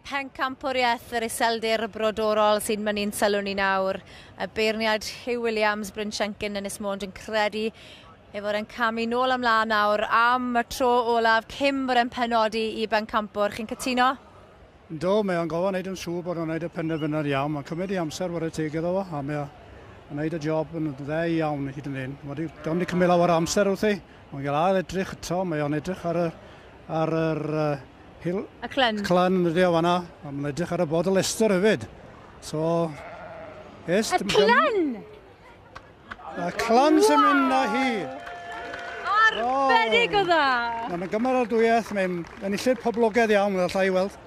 pencampwriaeth yr iseldir brodorol sy'n mynnu'n sylw ni nawr. Y beirniad Hugh Williams, Bryn Shenkin, Ynys Mond yn credu ei fod e'n camu nôl ymlaen nawr am y tro olaf cyn bod e'n penodi i bencampwr. Chi'n cytuno? Yndw, mae o'n gorfod wneud yn siŵr bod o'n wneud y penderfynad iawn. Mae'n cymryd ei amser ware teg iddo fo, a mae o'n wneud y job yn dde iawn hyd yn hyn. Wedi, do'n wedi cymryd lawer o amser wrthi, mae'n gael ail edrych eto, mae o'n edrych ar y, ar yr uh, hil... Y clyn. Clyn yn ydi o fanna, a mae'n edrych ar y bod y Leicester hefyd. So, es... Y clyn! A clan sy'n mynd â hi. Arbennig o dda! Mae'n gymeradwyaeth, mae'n enillydd poblogaidd iawn, fel allai weld.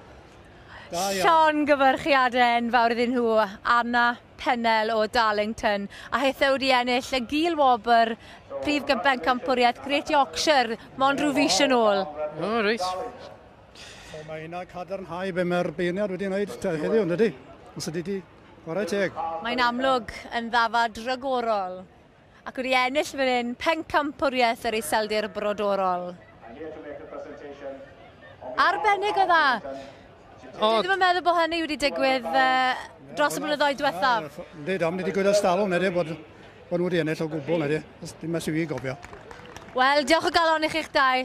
Llon gyfyrchiadau enfawr iddyn nhw, Anna Pennell o Darlington, a hithau wedi ennill y gil wobr Prif Gyben Campwriaeth Great Yorkshire, mond rhyw fis yn ôl. O, oh, reit. So mae hynna cadarnhau be mae'r beirniad wedi wneud heddiw, ydy? Os ydy di Chwarae teg. Mae'n amlwg yn ddafad rhagorol ac wedi ennill fan hyn pencampwriaeth yr iseldir brodorol. Arbennig o dda. Dwi ddim yn meddwl bod hynny wedi digwydd uh, dros y blynyddoedd diwethaf. Ynddi, dam, wedi digwydd ers talwm, nid bod, bod nhw wedi ennill o gwbl, nid dim mas i fi gofio. Wel, diolch o galon i chi'ch dau.